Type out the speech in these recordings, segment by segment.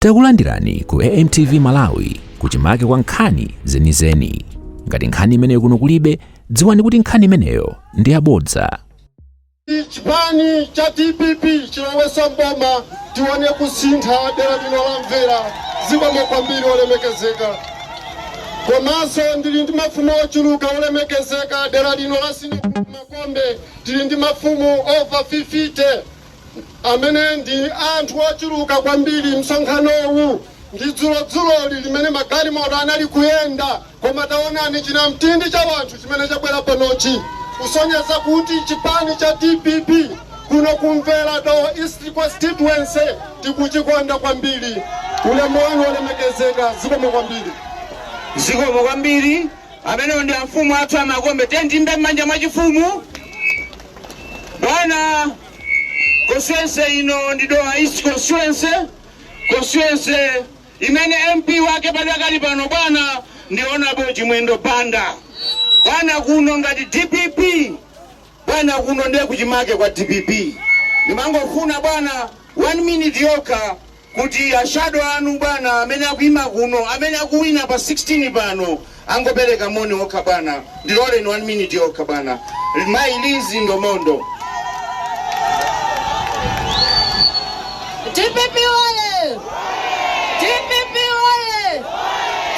Takulandirani ku AMTV Malawi kuchimake kwa nkhani zenizeni. Ngati nkhani imeneyo kuno kulibe, dziwani kuti nkhani imeneyo ndi yabodza. chipani cha dpp chilowesa mboma tione kusintha dera lino la mvera zikomo kwambiri olemekezeka komanso ndili ndi mafumu ochuluka olemekezeka dera lino la sinia gulupu Makombe tili ndi mafumu over 50 amene ndi anthu ochuluka kwambiri. Msonkhanowu ndi dzulodzuloli limene magalimoto anali kuyenda, koma taonani chinamtindi cha wanthu chimene chabwera panochi kusonyeza kuti chipani cha dpp kuno ku Mvera Dowa East Constituency tikuchikonda kwambiri. Ulemu wanu olemekezeka, zikomo kwambiri. Zikomo kwambiri. Amenewo ndi amfumu athu a Makombe. Tiyeni tiimbe m'manja mwachifumu. Bwana constituency ino ndi Dowa East constituency, constituency imene MP wake padakali pano bwana ndi Honorable Chimwendo Banda. Bwana kuno ngati DPP, bwana kuno ndiye kuchimake kwa DPP. Ndimangofuna bwana one minute yokha kuti a shadow anu bwana amene akuima kuno amene akuwina pa 16 pano angopereka moni okha bwana ndiloleni 1 minute yokha bwana mayi Liz Ndomondo. Dpp oye! Dpp oye!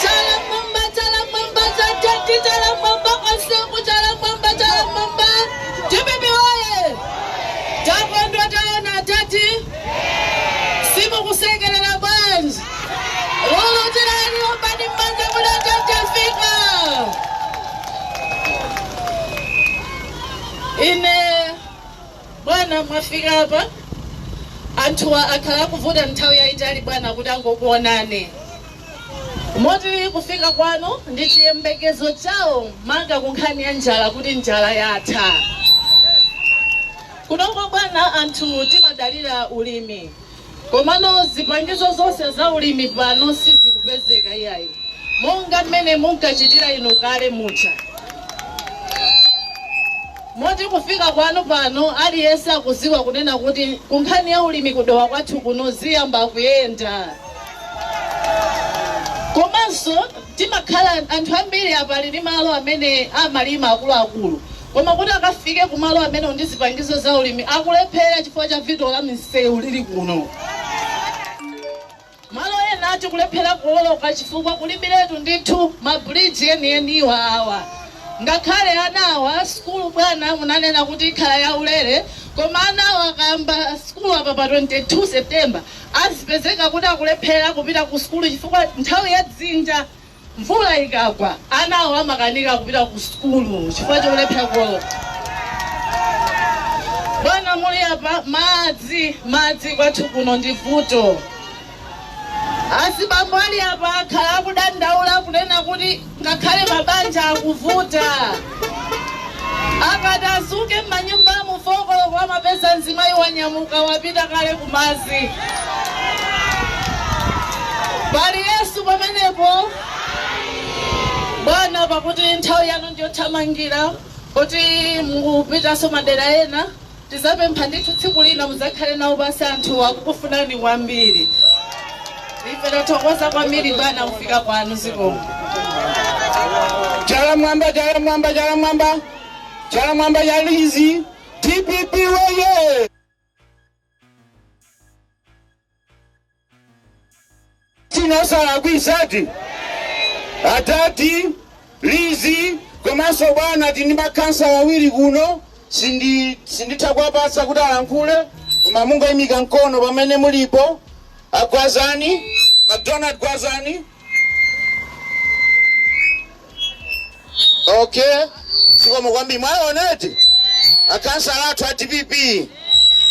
Chala mwamba, chala m'mwamba, zatenti chala mwamba, osungu chala m'mwamba, chala m'mwamba. Dpp oye! Takondwa taona atati simukusekelera bwanji lolo tiyeni ombani mmanja mwina nja chafika ine bwana mwafika apa anthuwa akhala akuvutika nthawi yayitali bwana kuti angokuonani moti kufika kwanu ndi chiyembekezo chawo maka kunkhani ya njala kuti njala yatha Kunoko bwana anthu timadalira ulimi komano zipangizo zonse za ulimi pano sizikupezeka iyayi monga mmene munkachitira inu kale muja moti kufika kwanu pano aliyense akuziwa kunena kuti kunkhani ya ulimi ku Dowa kwathu kuno ziyamba kuyenda komanso timakhala anthu ambiri apa ali ndi malo amene amalima akuluakulu Koma kuti akafike ku malo amenewo ndi zipangizo za ulimi akulephera chifukwa cha vuto la misewu lili kuno. Malo ena tikulephera kuwoloka chifukwa kulibiretu ndithu ma bridge enieniwa awa. Ngakhale ana awa, sukulu bwana munanena kuti ikhala ya ulere koma anawa akayamba sukulu apa pa 22 September azipezeka kuti akulephera kupita ku sukulu chifukwa nthawi ya dzinja. Mvula ikagwa, anawo amakanika kupita ku sukulu chifukwa cholephera kuwoloka. Bwana muli apa, madzi, madzi kwathu kuno ndi vuto. Azibambo ali apa akhala akudandaula kunena kuti ngakhale mabanja akuvuta. Akati adzuke m'manyumbamu 4 koloko amapeza mzimayi wanyamuka wapita kale kumadzi. Pali Yesu pamenepo? Bwana pakuti nthawi yanu ndiyothamangira kuti mukupitanso madera ena. Tidzapempha ndithu tsiku lina mudzakhale nawo pansi anthu akukufunani kwambiri. Ife tathokoza kwambiri bwana kufika kwanu zikomo. Chala mwamba, chala mwamba, chala mwamba, chala mwamba ya Lizzy, DPP woye! China chalakwikadi? Adadi, Lizzy komanso bwana tili ndi ma khansala awiri kuno sindi sinditha kuwapatsa kuti alankhule koma mungoimika mkono pamene mulipo. A Gwazani, MacDonald Gwazani. okay zikomo kwambiri mwaonatu akhansala athu a dpp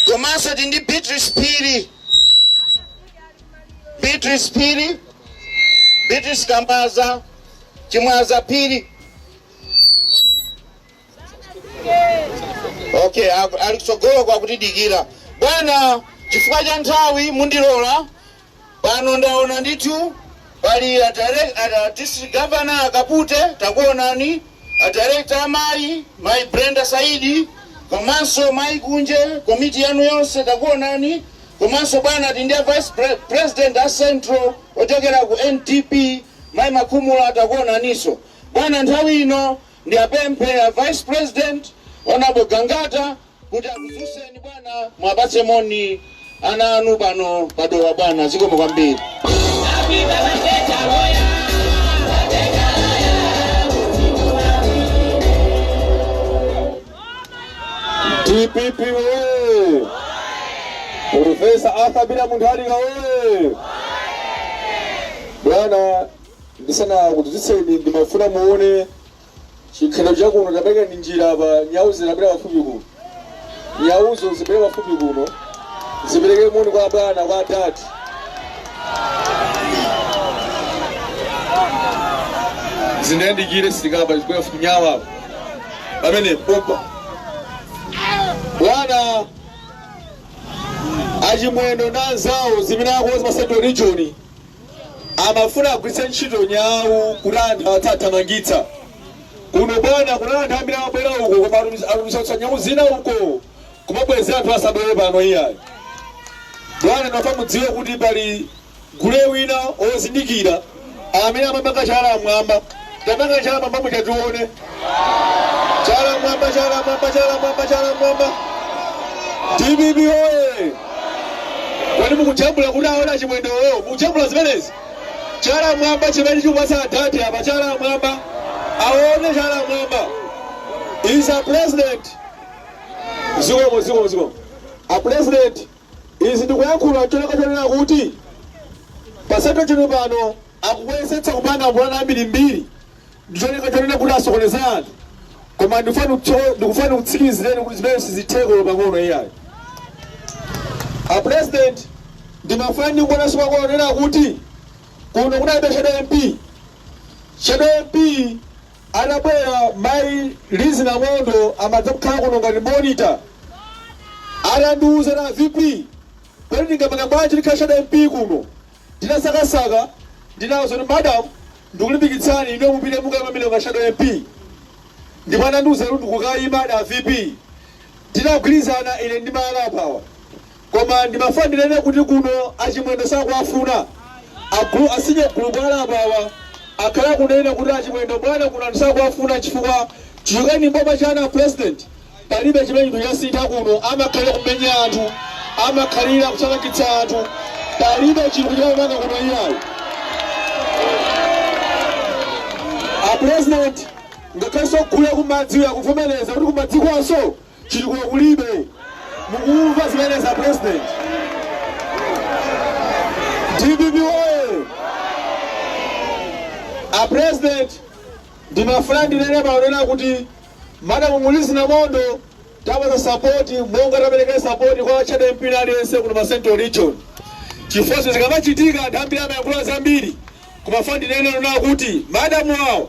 komanso tili ndi beatrice phiri beatrice phiri beatrice kambaza chimwaza phiri okay aku- ali kutsogoloko akutidikira bwana chifukwa cha nthawi mundilola Pano ndaona ndithu pali a direc a district governor a Kapute takuonani, a director amayi mayi Brenda Saidi komanso mayi Kunje komiti yanu yonse takuonani komanso bwana tili ndi a vice pre president a central ochokera ku NDP mayi Makhumula takuonaninso bwana. Nthawi ino ndiwapemphe a vice president honourable Gangata kuti akudzutseni bwana muwapatse moni ana anu pano pa dowa bwana zikomo kwambiri dpp woye profesa arthur peter mutharika woye bwana ndisanakudzutseni ndimafuna muone Chikhalo chakuno tapereka ndi njira apa nyau zibwere pafupi kuno. Nyauzo zibwere pafupi kuno. Zipereke moni kwa bwana kwa dad. Zindiyandikire sitikapa zibwere pafupi nyau apa. Pamene pompa. Bwana achimwendo na anzawo zimene akonza pa Central Region amafuna agwiritse ntchito nyawu kuti anthu atha azithamangitsa kuno bwana kuna anthu ambiri amabwera uko koma atumiza- atumizanso nyawu zina uko kumabwezera anthu asabwere pano iyayi bwana nafuna mudziwe kuti pali gule wina ozindikira amene amapanga chala mmwamba Tapangani chala mwamba muja tione. Chala mwamba, chala mwamba, chala mwamba, chala mwamba. Dpp oye! Kodi mukujambula kuti aone chimwendowo? Mukujambula zimenezi? Chala mwamba chimene tikupatsa adadi apa chala mwamba. Aone chala mwamba. Is a president. Zikomo, zikomo, zikomo. A president Izi ndikuyankhula ncholinga chonena kuti pa centre region pano akuyesetsa kupanga mapulani ambirimbiri ndicholinga chonena kuti asokoneze anthu koma ndikufuna ndikutsikimizireni kuti zimenezi sizitheka olo pang'ono iyayi. A president ndimafuna ndingonenanso pang'ono kunena kuti kuno kunalibe shadow MP. Shadow MP Anabwera mayi Lizzie Namondo amatha kukhala kuno ngati monitor. Anandiuza kuti a VP kodi ndingapange bwanji ndikhale shadow MP kuno. Ndinasakasaka ndinawauza kuti madam ndikulimbikitsani inuyo mupite mukaime pamenepo ngati shadow MP. Ndipo anandiuza kuti ndikukaimadi a VP. Tinagwirizana ine ndi ma rap awa. Koma ndimafuna ndinene kuti kuno achimwendo sakuwafuna. Agulu a senior group bwana apa awa akhala akunena kuti achimwendo bwana kuno anthu sakuwafuna chifukwa chichokereni m'boma chanu a president palibe chimene chinthu chasintha kuno amakhalira kumenya anthu amakhalira kuthamangitsa anthu palibe chinthu amapanga kuno iyayi. A president ngakhalenso a group akumadzi akuvomereza kuti kumadzikonso Chitukuko kulibe. Mukumva zimenezi a President? Dpp woye! A President, ndimafuna ndinene pano kunena kuti Madam Lizzie Namondo tawapatsa support monga taperekera support kwa Shadow MP wina aliyense kuno pa Central Region. Chifukwa zinthu zikamachitika anthu ambiri amayankhula zambiri. Koma nafuna ndinene kunena kuti Madam awo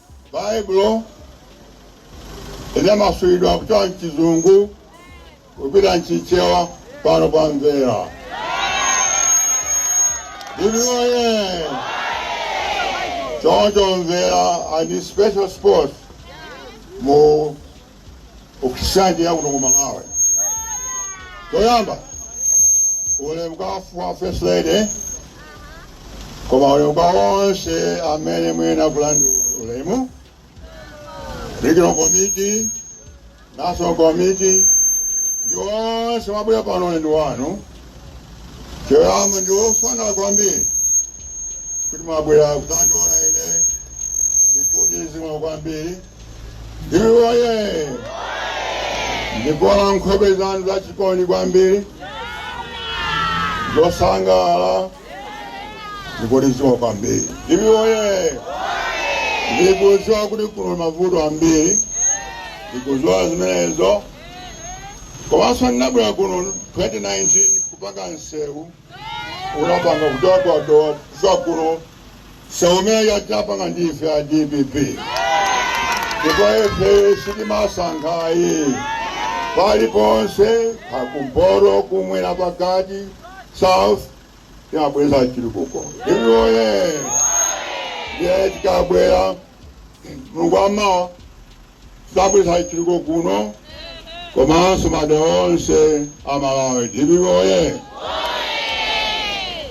Baibulo linamasulidwa kuchoka m'Chizungu kupita m'Chichewa pano pa Mvera. DPP oye choncho Mvera ndi special spot mu education ya kuno ku Malawi choyamba ulemu kwa former first lady koma ulemu kwa onse amene muyenera kulandira ulemu regional committee national committee ndi onse mwabwera pano ulendo wanu choyamba ndi ofanana kwambiri kuti mwabwera kudzandiona ine ndikuti zikomo kwambiri DPP oye! Ndikuona nkhope zanu za chikondi kwambiri zosangalala ndikuti zikomo kwambiri. DPP oye! Ndikuziwa kuti kuno mavuto ambiri ndikuziwa zimenezo komanso ndinabwera kuno 2019 kupanga msewu unapanga kuchoka kwa Dowa kudza kuno Msewu umene uja tinapanga ndi ife a dpp ndipo ifeyo sitimasankha ayi paliponse kumpoto kumwera pakati south timabweretsa chitukuko DPP oye ndiye tikabwera mulungu wa mawa Tabweretsa chitukuko kuno komanso madera onse a Malawi DPP oye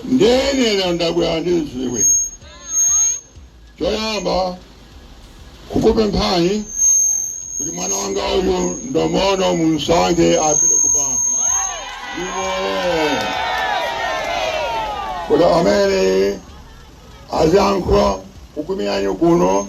ndiye lero ndabwera ndi ziwiri choyamba kukupemphani kuti mwana wanga uyu ndomono mumsankhe apite ku parliament kuti amene aziyankhula kukuimirani inu kuno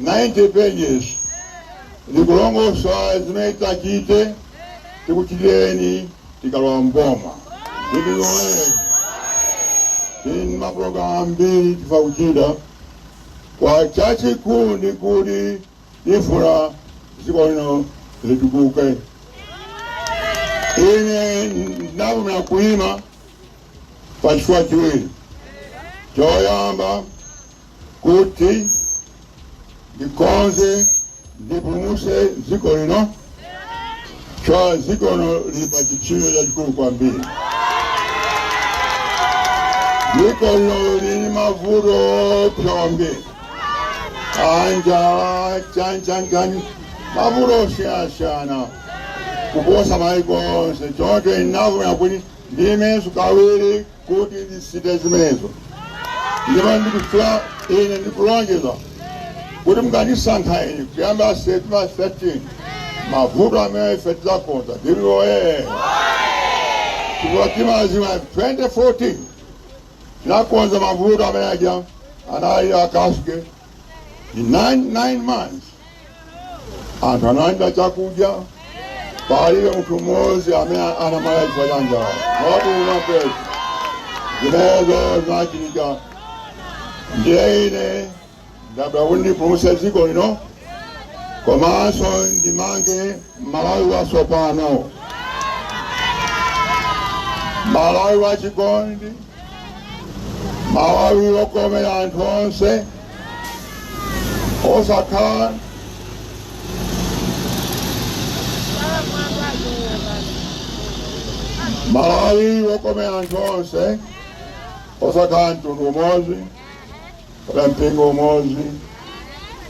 90 pages likulongosola zimene titachite, tikuchitireni tikalowa m'boma. Dpp woyee! Tili ndi mapulogalamu ambiri tifuna kuchita koma chachikulu ndi kuti tifuna dziko lino litukuke. Ine ndinavomera kuima pa chifukwa chiwiri. Choyamba kuti ndikonze ndipulumutse dziko lino chifukwa dziko lino lili pa chipsinjo chachikulu kwambiri dziko lino lili m'mavuto opsa kwambiri anjala chani chani chani mavuto osiyasiyana kuposa maiko onse choncho ndinavomera kuti ndiimenso kawiri kuti ndisinthe zimenezo ndipo ndikufuna ine ndikulonjeza kuti mukandisankha ine kuyamba septemba 13 mavuto amene ife tidzakonza DPP oye chifukwa timadziwa 2014 tinakonza mavuto amene aja anali akashigeti in nine, nine months anthu analandira chakudya palibe munthu mmodzi amene anamwalira chifukwa cha njala not one person zimenezo zinachitika ndiye ine ndabwera kuti ndipulumutse dziko lino komanso ndimange Malawi watsopano, Malawi wachikondi, Malawi wokomera anthu onse, osakhala mtundu umodzi. kapena mpingo umodzi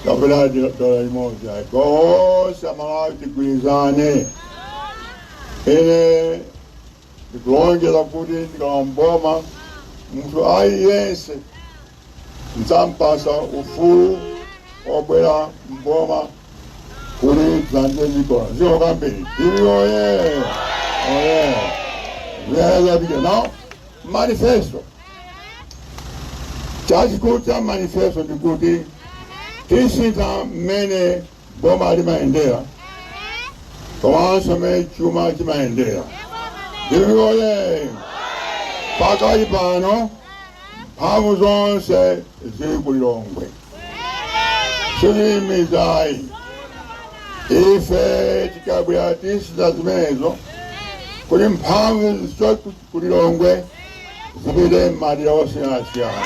kapena di- dola imodzi ayi tonse amalawi tigwirizane ine ndikulonjeza kuti ndikalowa mboma munthu aliyense ndidzampatsa ufulu obwera mboma kuti azandithandize zikomo zikomo kwambiri DPP oye oye ziyayazapike nawo manifesto chachikulu cha manifesto ndi kuti tisintha mmene boma limayendera komanso mmene chuma chimayendera DPP oye pakali pano mphamvu zonse zili ku lilongwe si zimenezo ayi ife tikabwera tisintha zimenezo kuti mphamvu ku Lilongwe zipite m'madera osiyanasiyana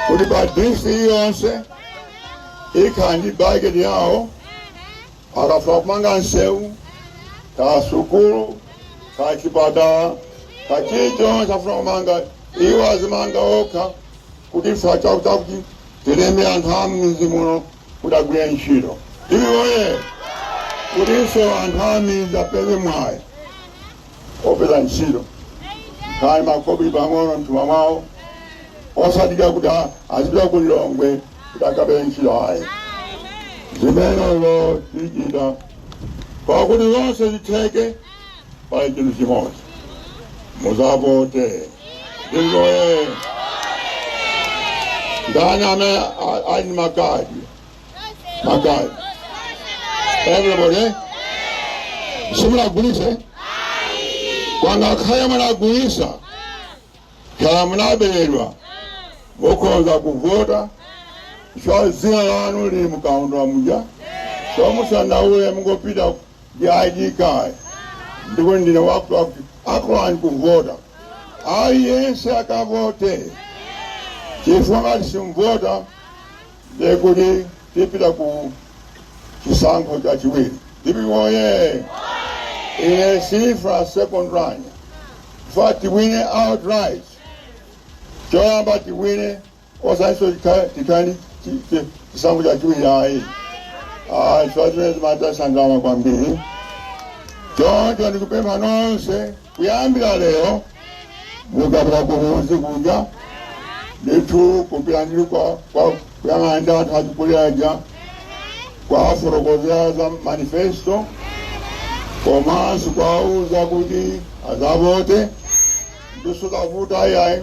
kuti pa DC yonse ikhala ndi bajeti yawo akafuna kumanga nsewu ka sukulu ka chipatala ka chilichonse afuna kumanga iwo azimanga okha kuti ife chakuti tilembe anthu a mmidzi muno kuti agwire ntchito DPP oye kutinso anthu ammidzi apeze mwayi opeza ntchito akhale ndi makobiri pang'ono mthumba mwawo osadikira kuti a- azipita ku lilongwe kuti akapeze ntchito ayi zimenezo tichita pakuti zonse zitheke pali chinthu chimodzi muzavote ndizoye ndani amene a- ali ndi makadi makadi everybody simunagulitse kwanga kaya munagulitsa kaya munaberedwa mukhoza kuvota chifukwa dzina lanu lili mkaundula muja so musadandaule mungopita ndi id card ndipo ndine wakuti akulani kuvota aliyense akavote chifukwa ngati simvota ndiye kuti tipita ku chisankho chachiwiri ndipo oye ine sifuna second run ifuna tiwine outright choyamba tiwine osatinso tikhale chisankho chachiwiri ayi ayi chifukwa zimathetsa ndalama kwambiri choncho ndikupempha nonse kuyambira lero mukapita kumuzi kuja ndithu kupita ndi kwa kwa- kuyang'ana ndi anthu achikulire aja kuwafotokozera za manifesto komanso kuwauza kuti azavote ndithu kavota ayayi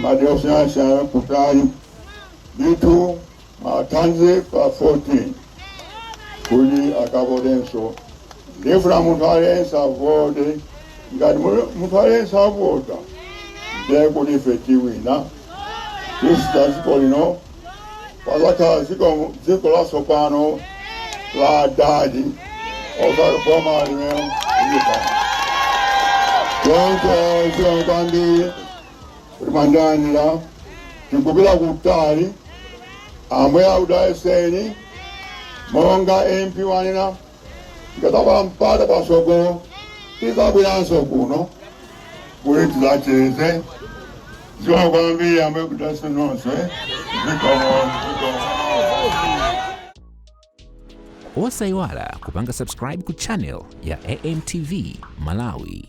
majoshasha kutali ndithu mathanzi pa 14 kuti akavotenso ndifuna munthu aliyense avote ngati mu- munthu aliyense avota ndiye kuti ife tiwina kusintha dziko lino pazakhala dziko dziko latsopano la adadi osati boma limene lilipo choncho zikomo kwambiri kuti mwandilandira tikupita kutali ambuye akudalitseni monga mp wanena tikadzapeza mpata patsogolo tidzabweranso kuno kuti tidzacheze zikomo kwambiri ambuye akudalitseni nonse zikomo zikomo osayiwala kupanga subscribe ku channel ya amtv malawi